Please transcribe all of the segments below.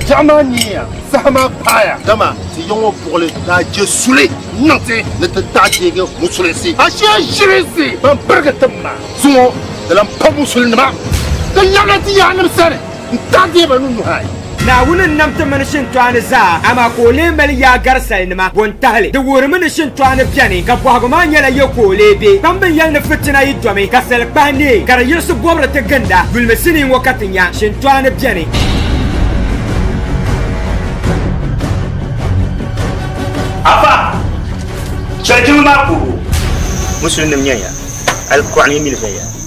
Biɛɣu maa niya saha maa paaya dama ti yiŋ o buɣuli daa je suli niŋ ti ni ti daa deegi musulinsi ashee ʒirinsi ban pirigi tim maa zuŋɔ di lan pa musulinima ti labina ti yaannim sani N-taɣi ba ni nuhi ayi. Naawuni n-nam ti mini shintɔɣani zaa, amaa ka o lee mali yaagari salinima bo n-tahili. Di wuhiri mi ni shintɔɣani beni, ka bɔhigu maa nyɛla yɛ ka o lee be. Kpambi yɛli ni fitina yi domi, ka sali kpahi neei, ka di yiɣisi bɔbiri ti ginda. Yulimi sinii ŋɔ ka ti nya, Shintɔɣani beni. Afa! Chɛli jiŋli maa puhibu! Musulinim nyɛnya, alikuɣani mili viɛnya.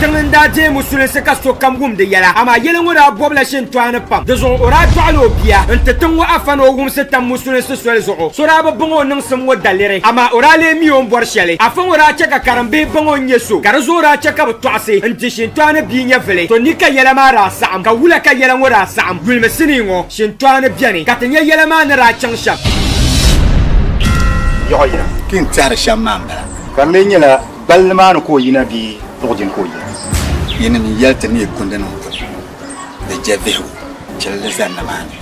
Tiŋ n daa deei musulinsi ka sokam wum di yɛla, amaa yɛli ŋɔ daa bɔbila shintɔɣu ni pam. Dizuɣu o daa dɔɣila o bia n-ti tiŋ ŋɔ afa ni o wumsi tam musulinsi soli zuɣu. So daa bi baŋ o niŋsim ŋɔ daliri, amaa o daa lee mi o ni bɔri shɛli. Afa ŋɔ daa chɛ ka karimbihi baŋ o ni nyɛ so, ka di zuɣu daa chɛ ka bɛ tɔɣisi n-di shintɔɣu ni bia nyɛvili. To ni ka yɛla maa daa saɣim, ka wula ka yɛla ŋɔ daa saɣim? Yulimi sinii ŋɔ, shintɔɣu ni beni ka ti nya yɛla maa ni daa chaŋ Shɛm. Yɔɣu yina. Ti ni tɛhiri shɛm maa m-bala. Ka m mi nyɛla gbali ni maa ni ka o yina bee buɣi dini ka o yina. Yinim n yɛli ti neei kundi nim ŋɔ ni jɛ bihigu chili di zani ni maa ni.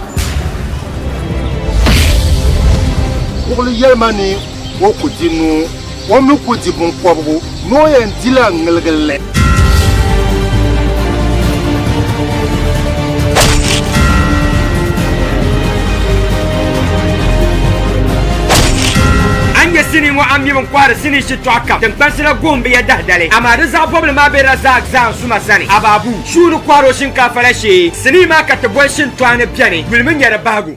Buɣili yɛli ma ni O ku di nuu, o mi ku di binkɔbigu ni o yɛn di la ŋiligi li. A ni nya sinii ŋɔ a mim n-kɔhiri sinii shitɔɣu kam tiŋkpansi la gohim bɛ ya dahidali, amaa di zaɣ bɔbili maa be Razak Zaanzuma sani. Ababu, Shuu ni kɔhiri o shinkaafa la shee. Sinii maa ka ti boli Shintɔɣu ni beni yuli mi nya di bahigu.